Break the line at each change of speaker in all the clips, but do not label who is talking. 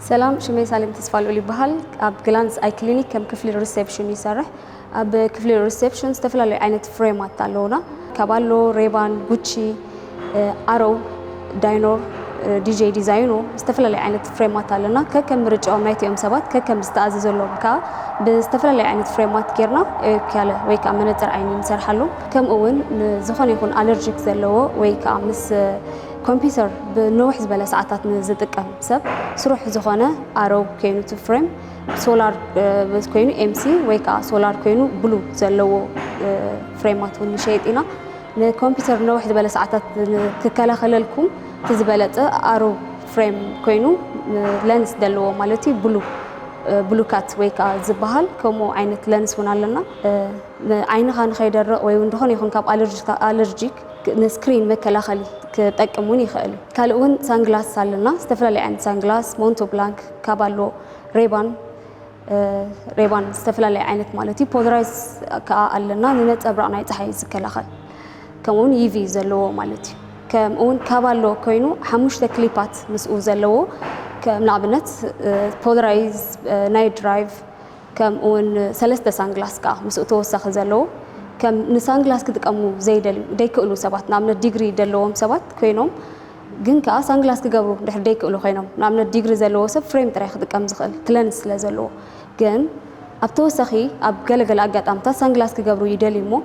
ሰላም ሽመይ ሳሌም ተስፋልኡል ይበሃል ኣብ ግላንስ ኣይ ክሊኒክ ከም ክፍሊ ሪሴፕሽን ይሰርሕ ኣብ ክፍሊ ሪሴፕሽን ዝተፈላለዩ ዓይነት ፍሬማት ኣለውና ካባሎ ሬባን ጉቺ ኣሮው ዳይኖር ዲጄ ዲዛይኑ ዝተፈላለዩ ዓይነት ፍሬማት ኣለና ከከም ምርጫኦም ናይቲኦም ሰባት ከከም ዝተኣዘዘሎም ከዓ ብዝተፈላለዩ ዓይነት ፍሬማት ጌርና ኤርክያለ ወይ ከዓ መነፅር ዓይኒ ንሰርሓሉ ከምኡ እውን ዝኾነ ይኹን ኣለርጂክ ዘለዎ ወይ ከዓ ምስ ኮምፒውተር ብንውሕ ዝበለ ሰዓታት ንዝጥቀም ሰብ ስሩሕ ዝኾነ ኣረው ኮይኑቲ ፍሬም ሶላር ኮይኑ ኤምሲ ወይ ከዓ ሶላር ኮይኑ ብሉ ዘለዎ ፍሬማት እውን ንሸይጥ ኢና ንኮምፒውተር ነውሕ ዝበለ ሰዓታት ክከላኸለልኩም እቲ ዝበለፀ ኣሮ ፍሬም ኮይኑ ለንስ ዘለዎ ማለት እዩ ብሉ ብሉካት ወይ ከዓ ዝበሃል ከምኡ ዓይነት ለንስ እውን ኣለና ዓይንኻ ንኸይደረቕ ወይ እውን ዝኾነ ይኹን ካብ ኣለርጂክ ንስክሪን መከላኸሊ ክጠቅም እውን ይኽእል እዩ ካልእ እውን ሳንግላስ ኣለና ዝተፈላለዩ ዓይነት ሳንግላስ ሞንቶ ብላንክ ካብ ኣሎ ሬባን ሬባን ዝተፈላለየ ዓይነት ማለት እዩ ፖለራይዝ ከዓ ኣለና ንነፀብራቕ ናይ ፀሓይ ዝከላኸል ከምኡውን ኢቪ ዘለዎ ማለት እዩ ከምኡውን ካብ ኣሎ ኮይኑ ሓሙሽተ ክሊፓት ምስኡ ዘለዎ ከም ንኣብነት ፖለራይዝ ናይ ድራይቭ ከምኡውን ሰለስተ ሳንግላስ ከዓ ምስኡ ተወሳኺ ዘለዎ ከም ንሳንግላስ ክጥቀሙ ዘይደልዩ ዘይክእሉ ሰባት ንኣብነት ዲግሪ ዘለዎም ሰባት ኮይኖም ግን ከኣ ሳንግላስ ክገብሩ ድሕሪ ደይክእሉ ኮይኖም ንኣብነት ዲግሪ ዘለዎ ሰብ ፍሬም ጥራይ ክጥቀም ዝኽእል ክለንስ ስለ ዘለዎ ግን ኣብ ተወሳኺ ኣብ ገለ ገለ ኣጋጣምታት ሳንግላስ ክገብሩ ይደልዩ እሞ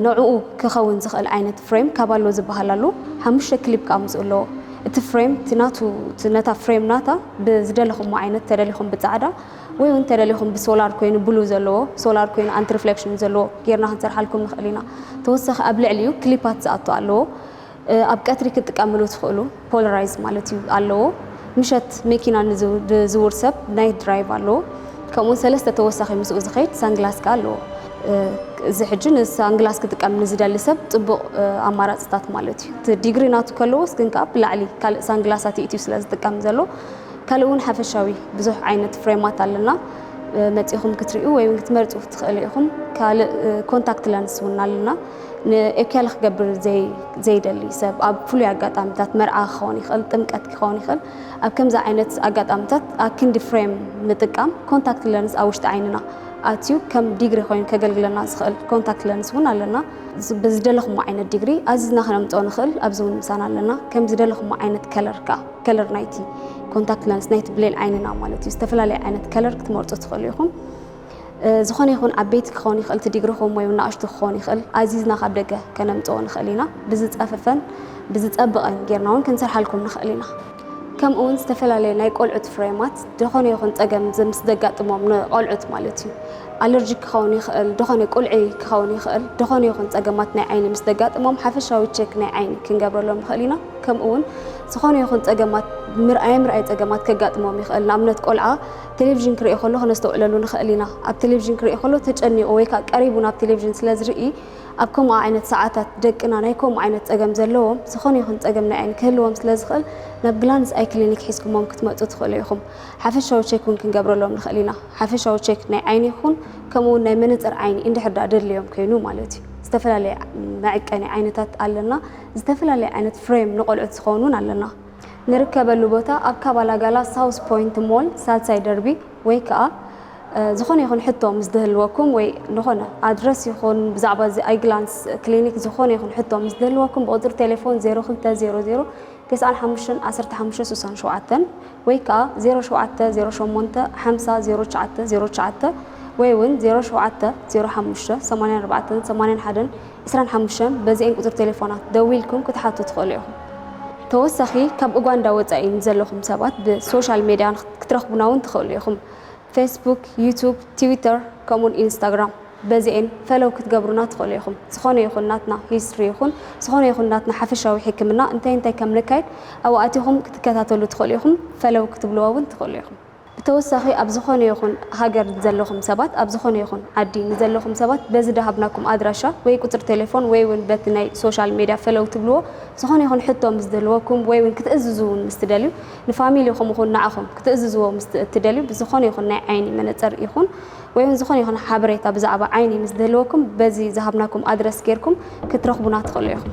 ነዑኡ ክኸውን ዝኽእል ዓይነት ፍሬም ካብ ኣሎ ዝበሃል ኣሎ ሓሙሽተ ክሊፕ ከኣ ምስኡ ኣለዎ እቲ ፍሬም እቲ ናቱ እቲ ነታ ፍሬም ናታ ብዝደለኹሞ ዓይነት ተደሊኹም ብጻዕዳ ወይ ውን ተደሊኹም ብሶላር ኮይኑ ብሉ ዘለዎ ሶላር ኮይኑ ኣንቲ ሪፍሌክሽን ዘለዎ ጌርና ክንሰርሓልኩም ንኽእል ኢና ተወሳኺ ኣብ ልዕሊኡ ክሊፓት ዝኣቱ ኣለዎ ኣብ ቀትሪ ክትጥቀምሉ ትኽእሉ ፖለራይዝ ማለት እዩ ኣለዎ። ምሸት መኪና ንዝውር ሰብ ናይት ድራይቭ ኣለዎ። ከምኡውን ሰለስተ ተወሳኺ ምስኡ ዝኸይድ ሳንግላስ ከኣ ኣለዎ። እዚ ሕጂ ንሳንግላስ ክጥቀም ንዝደሊ ሰብ ጽቡቕ ኣማራጽታት ማለት እዩ። እቲ ዲግሪ ናቱ ከለዎስ ግን ከኣ ብላዕሊ ካልእ ሳንግላሳት ይእትዩ ስለ ዝጥቀም ዘሎ ካልእ እውን ሓፈሻዊ ብዙሕ ዓይነት ፍሬማት ኣለና መጺኹም ክትሪኡ ወይ እውን ክትመርጹ ትኽእሉ ኢኹም። ካልእ ኮንታክት ለንስ እውን ኣለና። ንኤኬለ ክገብር ዘይደሊ ሰብ ኣብ ፍሉይ ኣጋጣሚታት መርዓ ክኸውን ይኽእል፣ ጥምቀት ክኸውን ይኽእል። ኣብ ከምዚ ዓይነት ኣጋጣሚታት ኣክንዲ ፍሬም ምጥቃም ኮንታክት ለንስ ኣብ ውሽጢ ዓይንና ኣትዩ ከም ዲግሪ ኮይኑ ከገልግለና ዝኽእል ኮንታክት ለንስ እውን ኣለና። ብዝደለኹሞ ዓይነት ዲግሪ ኣዚዝና ክነምፅኦ ንኽእል፣ ኣብዚ እውን ምሳና ኣለና። ከም ዝደለኹሞ ዓይነት ከለር ከዓ ከለር ናይቲ ኮንታክት ለንስ ናይቲ ብሌን ዓይንና ማለት እዩ ዝተፈላለየ ዓይነት ከለር ክትመርፁ ትኽእሉ ኢኹም። ዝኾነ ይኹን ዓበይቲ ክኸውን ይኽእል እቲ ዲግሪኹም ወይ ናእሽቱ ክኸውን ይኽእል ኣዚዝና ካብ ደገ ከነምጽኦ ንኽእል ኢና። ብዝጸፈፈን ብዝጸብቐን ጌርና እውን ክንሰርሓልኩም ንኽእል ኢና። ከምኡውን ዝተፈላለየ ናይ ቆልዑት ፍሬማት ዝኾነ ይኹን ጸገም ምስ ዘጋጥሞም ንቆልዑት ማለት እዩ ኣለርጂክ ክኸውን ይኽእል ዝኾነ ቁልዒ ክኸውን ይኽእል ዝኾነ ይኹን ጸገማት ናይ ዓይኒ ምስ ዘጋጥሞም ሓፈሻዊ ቼክ ናይ ዓይኒ ክንገብረሎም ንኽእል ኢና። ከምኡውን ዝኾነ ይኹን ጸገማት ምርኣይ ምርኣይ ጸገማት ከጋጥሞም ይኽእል ንኣብነት ቆልዓ ቴሌቪዥን ክርኢ ከሎ ከነስተውዕለሉ ንኸእል ኢና። ኣብ ቴሌቪዥን ክርኢ ከሎ ተጨኒቑ ወይ ከኣ ቀሪቡ ናብ ቴሌቪዥን ስለ ዝርኢ ኣብ ከምኡ ዓይነት ሰዓታት ደቅና ናይ ከምኡ ዓይነት ጸገም ዘለዎም ዝኾነ ይኹን ጸገም ናይ ዓይኒ ክህልዎም ስለ ዝኽእል ናብ ግላንስ ኣይ ክሊኒክ ሒዝኩሞም ክትመጹ ትኽእሉ ኢኹም። ሓፈሻዊ ቼክ እውን ክንገብረሎም ንኽእል ኢና። ሓፈሻዊ ቼክ ናይ ዓይኒ ይኹን ከምኡ እውን ናይ መነጽር ዓይኒ እንድሕር ደኣ ደድልዮም ከይኑ ማለት እዩ። ዝተፈላለየ መዕቀኒ ዓይነታት ኣለና። ዝተፈላለየ ዓይነት ፍሬም ንቆልዑት ዝኸውን እውን ኣለና። ንርከበሉ ቦታ ኣብ ካባላጋላ ሳውዝ ፖይንት ሞል ሳልሳይ ደርቢ ወይ ከኣ ዝኾነ ይኹን ሕቶ ምስ ድህልወኩም ወይ ንኾነ ኣድረስ ይኹን ብዛዕባ እዚ ኣይግላንስ ክሊኒክ ዝኾነ ይኹን ሕቶ ምስ ድህልወኩም ብቁጽሪ ቴሌፎን 0200 ተስዓን ሓሙሽተን ዓሰርተ ሓሙሽተ ስሳን ሸውዓተን ወይ ከኣ 07 08 ሓምሳ ዜሮ ትሽዓተ ዜሮ ትሽዓተ ወይ እውን 07 05 ሰማንያን ኣርባዕተን ሰማንያን ሓደን ዕስራን ሓሙሽተን በዚኤን ቁጽሪ ቴሌፎናት ደዊልኩም ክትሓቱ ትኽእሉ ኢኹም። ተወሳኺ ካብ ኡጋንዳ ወጻኢ ንዘለኹም ሰባት ብ ሶሻል ሜድያ ክትረኽቡና ውን ትኽእሉ ኢኹም ፌስቡክ ዩቱብ ቲዊተር ከምኡውን ኢንስታግራም በዚኤን ፈለው ክትገብሩና ትኽእሉ ኢኹም። ዝኾነ ይኹን ናትና ሂስትሪ ይኹን ዝኾነ ይኹን ናትና ሓፈሻዊ ሕክምና እንታይ እንታይ ከም ነካይድ ኣብኡ ኣቲኹም ክትከታተሉ ትኽእሉ ኢኹም ፈለው ክትብልዎ ውን ትኽእሉ ኢኹም። ብተወሳኺ ኣብ ዝኾነ ይኹን ሃገር ንዘለኹም ሰባት ኣብ ዝኾነ ይኹን ዓዲ ንዘለኹም ሰባት በዚ ደሃብናኩም ኣድራሻ ወይ ቁጽሪ ቴሌፎን ወይ ውን በቲ ናይ ሶሻል ሜድያ ፈለው ትብልዎ ዝኾነ ይኹን ሕቶ ምስ ዝህልወኩም ወይ ውን ክትእዝዙ ውን ምስ ትደልዩ ንፋሚሊኹም ኹን ንዓኹም ክትእዝዝዎ ምስ እትደልዩ ብዝኾነ ይኹን ናይ ዓይኒ መነጸር ይኹን ወይ ውን ዝኾነ ይኹን ሓበሬታ ብዛዕባ ዓይኒ ምስ ዝህልወኩም በዚ ዝሃብናኩም ኣድረስ ጌርኩም ክትረኽቡና ትኽእሉ ኢኹም።